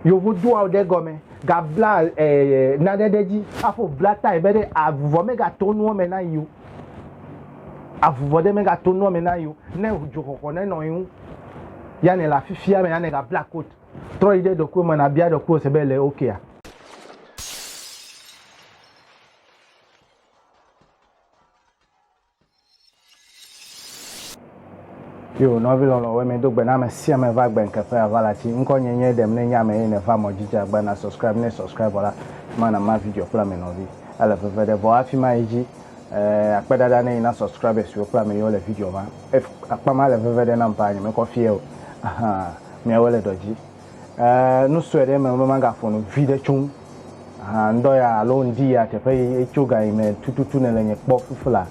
Yevu doa ɖe gɔme gabla eh, naɖe ɖe dzi aƒo bla tae be ɖe avuvɔ megato nuɔ me na yi o avuvɔ ɖe megato nuɔ me na yi o ne dzoxɔxɔ ne nɔ yi ŋu ya ne le afifia me ya ne gabla kot trɔ yi ɖe ɖokui me na bia ɖokui se be le okea okay. Yo, nɔvi lɔlɔ̃woe, medo gbe na ame sia ame va gbe ŋke ƒe aʋala tsi. Ŋkɔ nye nye ɖem ne nye ame ye nèva mɔ dzi dze agba na subscribe ne subscribe vɔ la afima na ma video kple ame nɔvi ele veve ɖe vɔ afima yi dzi eh akpe ɖaɖa ne yi na subscribe siwo kple ame yiwo le video ma ef akpa ma le veve ɖe nam paa nye mekɔ fie o ahaa miawoe le dɔ dzi. nu sue ɖe eme be magaƒo nu viɖe tso ŋu. Aha, ŋdɔ ya alo ŋdi ya teƒe yi etso ga yi me tututu ne le nye kpɔ fifla.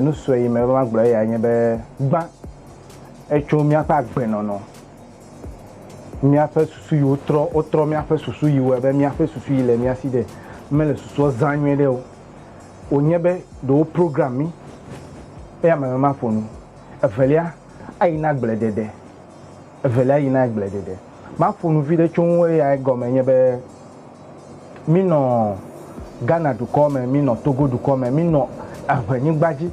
Nu sue yi me be magblɔ eya nye be gbã etso míaƒe agbenɔnɔ, míaƒe susu yi wotrɔ, wotrɔ míaƒe susu yi wɔe be míaƒe susu yi le mía si ɖe mele susua zã nyuie ɖe o. Wònye be ɖe wo program mí eya me be maƒo nu. Evelia, ayi na agbledede. Evelia yina agbleɖeɖe. Maƒo nu viɖe tso ŋu eya egɔme nye be, minɔ Ghana dukɔ me, minɔ Togo dukɔ me, minɔ eŋe nyigba dzi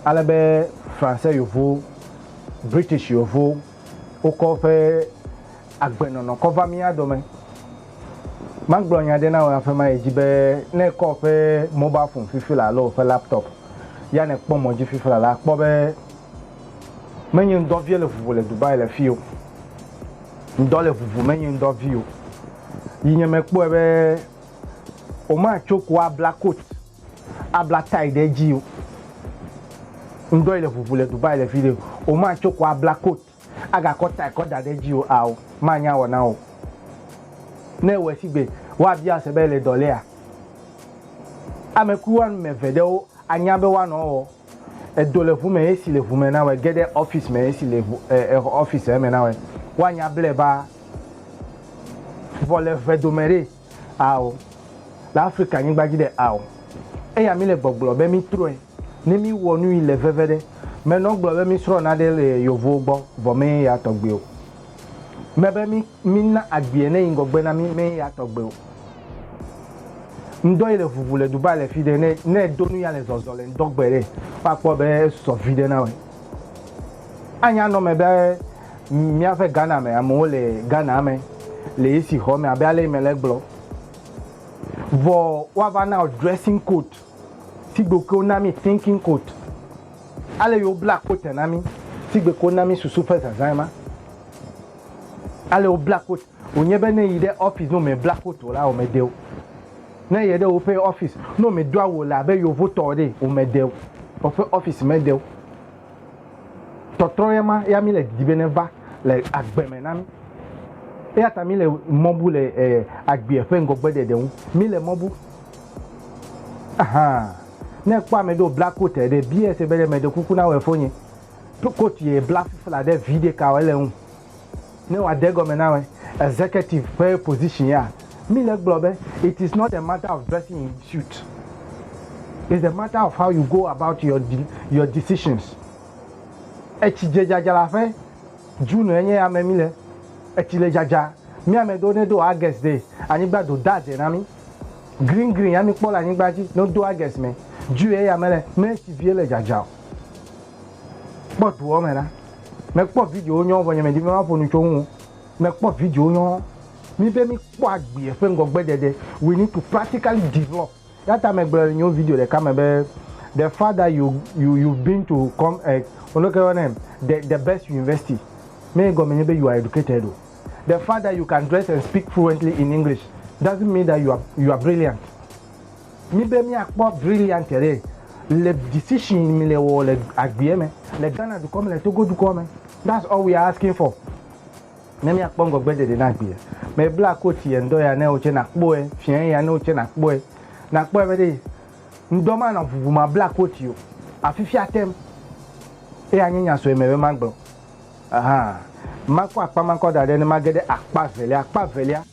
ale be Fransɛ yovo, British yovo wokɔ woƒe agbenɔnɔ kɔ va mía dome. Magblɔ nya ɖe na wò aƒe ma edzi be ne ekɔ woƒe mobile phone fifila alo woƒe laptop ya ne kpɔ mɔ dzi fifila la akpɔ be, Menye ŋdɔ vie le ʋuʋu le Dubai le fio. Ŋdɔ le ʋuʋu menye ŋdɔ vio. Yi nye me kpɔe be o ma tso ko a bla coat a bla tie ɖe dzio. Ŋdɔ yi le ʋuʋu le Dubai le fio. O ma tso ko a bla coat a ga kɔ tie kɔ da ɖe dzio ao ma nya wɔ na o. Ne ewɔe sigbe woa bia se be ele dɔ lea? Ame kui woame eve ɖewo a nya be woa nɔ wɔ. Edo le ʋu me esi le ʋu me na wɛ, ge ɖe ɔfis me esi le ɔfis me na wɛ. Woanya blɛ ba vɔ le ʋe dome ɖe ao, le Afrika nyigba dzi ɖe ao. Eya mi le gbɔgblɔ be mi trɔɛ ne mi wɔ nui le veve ɖe. Me nɔ gblɔ be mi srɔ naɖe le yovowo gbɔ vɔ me ye ya tɔgbe o. Me be mi na agbiɛ ne yi ŋgɔgbe na mi me ye ya tɔgbe o. ŋdɔ yi le vuvu le duba le fi ɖe ne ne edo nu ya le zɔzɔ le ŋdɔ gbe ɖe woakpɔ be esɔ vi ɖe na wɔ anya nɔ me be míaƒe ghana me amewo le ghana me le esi xɔ me abe ale yi me le gblɔ vɔ woava na dressing coat si gbe ke wona mi thinking coat ale yi wobla coat na mi si gbe ke wona mi susu ƒe zazã ma ale wobla coat Wònye be ne yi ɖe ɔfis ne wome bla foto la wome de o. Ne ye ɖe woƒe ɔfis ne wome do awu le abe yovotɔ ɖe wome de o. Woƒe ɔfis me de o. Tɔtrɔ ye ma ya mi le didi be ne va le agbe me na mi. Eya ta mi le mɔ bu le e agbea ƒe ŋgɔgbe ɖeɖe ŋu. Mi le mɔ bu. Ahan. Ne ekpɔ ame ɖe wobla kot ɖe bia se be ɖe meɖe kuku na wɔ efonye. Kot ye bla fifla ɖe vi ɖeka wɔ ele ŋu. Ne wòade egɔme na ame executive ƒe position ya, mí le gblɔ be it is not a matter of dressing in suit, it's a matter of how you go about your your decisions. Etsi dze dzadzra ƒe, June enye ya me mí le, etsi le dzadza, mí ame ɖewo ne do August ɖe, anyigba do da dze na mí, green green ya mí kpɔ le anyigba dzi, ne wodo August me, June eya me le, me etsi vie le dzadzra o. Kpɔ doɔ me ɖa. Mekpɔ videowo nyɔɔ vɔ nye medi be maƒo nu tso eŋu o. Mekpɔ videowo nyɔɔ. Mi be mikpɔ agbeɛ ƒe ŋgɔgbedede. We need to practically develop. Eya ta megblɔ le nyewo video ɖeka me be the fact that you you you've been to com eh leke wo yɔnɛ the the best university me ye gɔme nye be you are educated o. The fact that you can dress and speak fluently in English doesn't mean that you are you are brilliant. Mi be mia kpɔ brilliant ɖe le decision mi le wɔ le agbea me le Ghana dukɔ me le Togo dukɔ me that's all we are asking for ne mia kpɔ ŋgɔgbe ɖeɖe na agbea me bla coat yɛ ŋdɔ ya ne wo tse na kpɔɛ fiɛ ya ne wo tse na kpɔɛ na kpɔɛ be ɖe ŋdɔ ma na vuvu ma bla coat yo afifia tem eya nye nya sɔe me be ma gblɔ ahan ma kɔ akpa ma kɔ da ɖe ne ma ge ɖe akpa velia akpa velia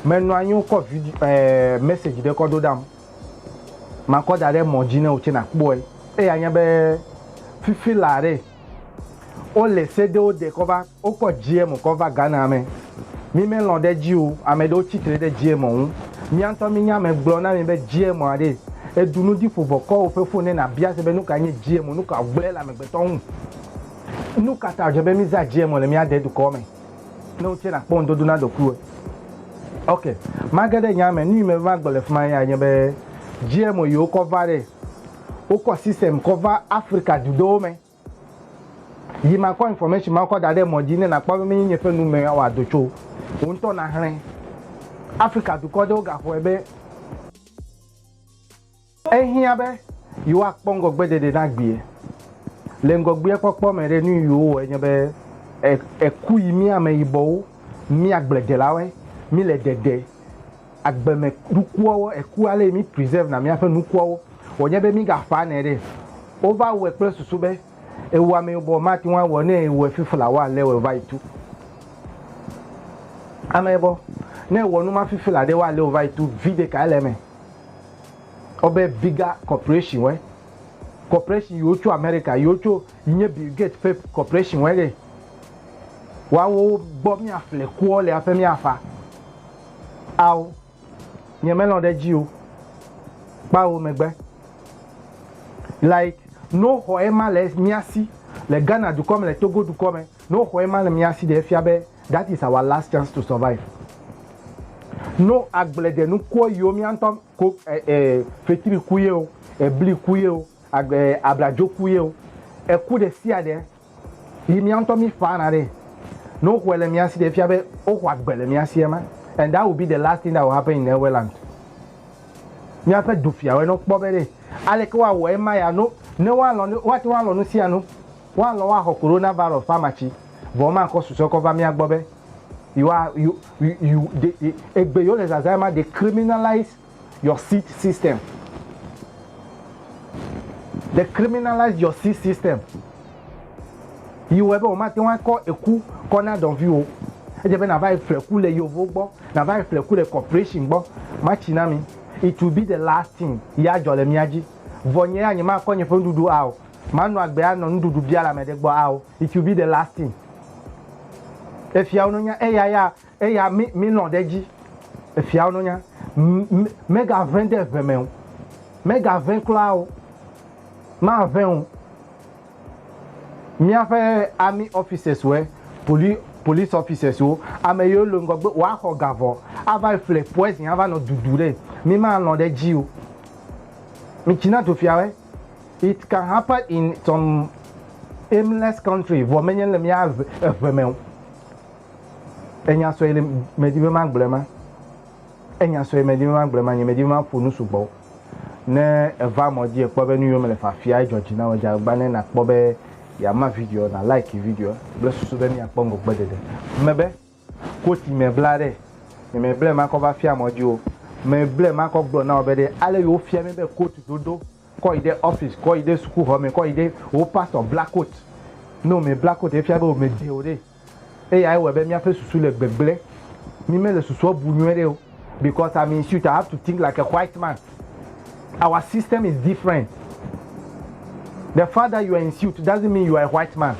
menɔ anyi wokɔ video ɛɛ eh, message ɖe kɔ ɖo ɖam makɔ da ɖe mɔ dzi ne wotse nakpɔe eya nya be fifi la ɖe wole se ɖewo de kɔ va wokɔ gm kɔ va ghana me mi melɔ ɖe dzi o ame ɖewo tsitre ɖe gm ŋu miantɔ mi nya me gblɔ na mi be gm aɖe edu nu ɖi ƒovɔ kɔ woƒe fone na bia se be nuka nye gm nuka gblẽ le amegbetɔ ŋu Nu ka ta wòdze be mízã dzi emɔ le mía dedukɔa me ne wotsɛ nakpɔ ŋudodo na ɖokuiwòe? Ok, mage ɖe nyaa me. Nuyi mebe magblɔ le fima ya nye be, dzi emɔ yi wokɔ va ɖe, wokɔ system kɔ va Afrika du ɖewo me yi makɔ information mawo kɔ da ɖe emɔ dzi ne nakpɔ be menye nye ƒe nu me wòawɔ do tso o. Wò ŋutɔ naxlẽ. Afrika dukɔ ɖewo gaxɔe be. Ehiã be yewoakpɔ ŋgɔgbeɖeɖe na gbea. Le ŋgɔgbeakpɔkpɔ me ɖe, nu yi wowɔe nye be eku yi mía ameyibɔwo, mía agbledelawoe mí le ɖeɖe. Agbeme nukuawo, eku ale yi mí preserve na míaƒe nukuawo wònye be mí ga ƒã nɛ ɖe. Wova wɔe kple susu be ewɔ ameyibɔ mate ŋu awɔ ne ewɔe fifi la wa le wɔ va yi tu. Ameyibɔ ne ewɔ numa fifi la ɖe wa le wɔ va yi tu, viɖe kae le eme? Wobe Bigger Corporation wɔe. Corporation yiwo tso Amerika yiwo tso nye Bill Gates ƒe corporation wɔe ɖe. Woawo gbɔ míafle kuɔ le aƒe míafa. Ao, nye melɔ̃ ɖe edzi o. Kpao megbe. Like, no xɔ ema le mía si le Ghana dukɔ me le Togo dukɔ me. No xɔe ma le mía si ɖe efia be that is our last chance to survive. No agble ɖe nukuɔ yio mía ŋtɔ ko e e fetri ku yeo, ebli ku yeo, ag e abladzo ku yeo, eku ɖe sia ɖe yi mía ŋtɔ mí ƒa na ɖe. No xɔe le mía si ɖe efia be wo xɔ agbe le mía si ema and that will be the last thing that will happen in Eweland. Míaƒe dufiawɔe nɔ kpɔ be ɖe aleke woa wɔ ema ya no ne woa lɔ ne woa te ŋu alɔ nu sia nu. Woalɔ̃ woaxɔ Coronavirus ƒe amatsi, vɔ womakɔ susɔe kɔ va mía gbɔ be yewoa, you, you, you, they, they, egbe yewole zazãe ma, they criminalize your seat system. They criminalize your seat system. Yi wɔe be womate ŋu akɔ eku kɔ na dɔviwò. Edze be nàva yi ƒle ku le Yevuwo gbɔ, nàva yi ƒle ku le corporation gbɔ. Matsi na mi. It will be the last thing yi adzɔ le mía dzi. Vɔ nye ya nyemakɔ nye ƒe nuɖuɖu ao. Manu agbe anɔ nuɖuɖu bia le ame ɖe gbɔ ao, it will be the last thing. Efiawo no nya eya ya eya mi mi lɔn ɖe dzi. Efiawo no nya m me ga ʋe de ʋe me o. Me ga ʋe kura o. Ma ʋe o. Mia ƒe army officers woe, poli police officers wo, ame yewo le ŋgɔgbe woa xɔ ga vɔ a va yi ƒle poison a va nɔ ɖuɖu ɖe. Mi ma lɔn ɖe dzi o. Mi Chinatu fiawoe. It can happen in some aimless country vɔ menye le mía eve me o. Enya sue le medi be ma gblɔe ma. Enya sue medi be ma gblɔe ma nye medi be ma ƒo nu sugbɔ o. Ne eva mɔ dzi ekpɔ be nu yiwo mele fafia edzɔ dzi na wò dze agbagba ne nakpɔ be yeama video na like video kple susu be miakpɔ ŋgɔgbeɖeɖe me be. Kosi me bla ɖe, nye me ble makɔ va fia mɔ dzi o. Me ble makɔ gblɔ na wò be ɖe ale yi wo fia mi be coat dodo kɔ yi ɖe office, kɔ yi ɖe suku xɔ me, kɔ yi ɖe wò pastor bla coat ne wò me bla coat efia be wò me dze o ɖe. Eyae wɔe be mía ƒe susu le gbegble. Mi me le susuɔ bu nyuiɖe o. Because I'm in suit, I have to think like a white man. Our system is different. The fact that you are in suit doesn't mean you are a white man.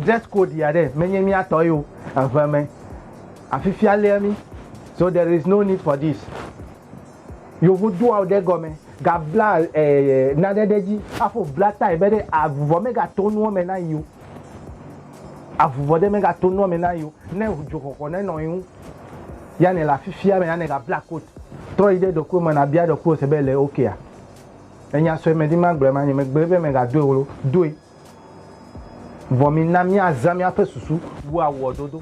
Dress code ya ɖe menye míatɔ yo eve me. Afifia lia mi. So there is no need for this. Yevu do awu ɖe gɔme gabla ɛɛ eh, eh, nane ɖe dzi afo bla tae be ɖe avuvɔ megato nuɔ me na yi o. Avuvɔ ɖe megato nuɔ me na yi o. Ne dzoxɔxɔ nenɔ yi ŋu. Yane le afifia me, Yane gabla kot. Trɔ yi ɖe ɖokuiwò me nàbia ɖokuiwò se be ele okea? Ènya sue medi magblɔe ma nye megblɔe be mègadoe o lo, doe. Vɔ mina míazã míaƒe susu wu awuɔdodo.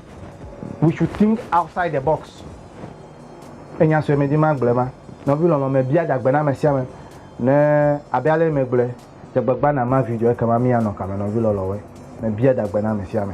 We should think outside the box. Ènya sue medi magblɔe ma. Nɔvi lɔlɔ̃, mebia ɖagbe na ame sia ame ne abe ale megblɔe, dze agbagba nàma video ekema míanɔ kame nɔvi lɔlɔ̃woe. Mebia ɖagbe na ame sia ame.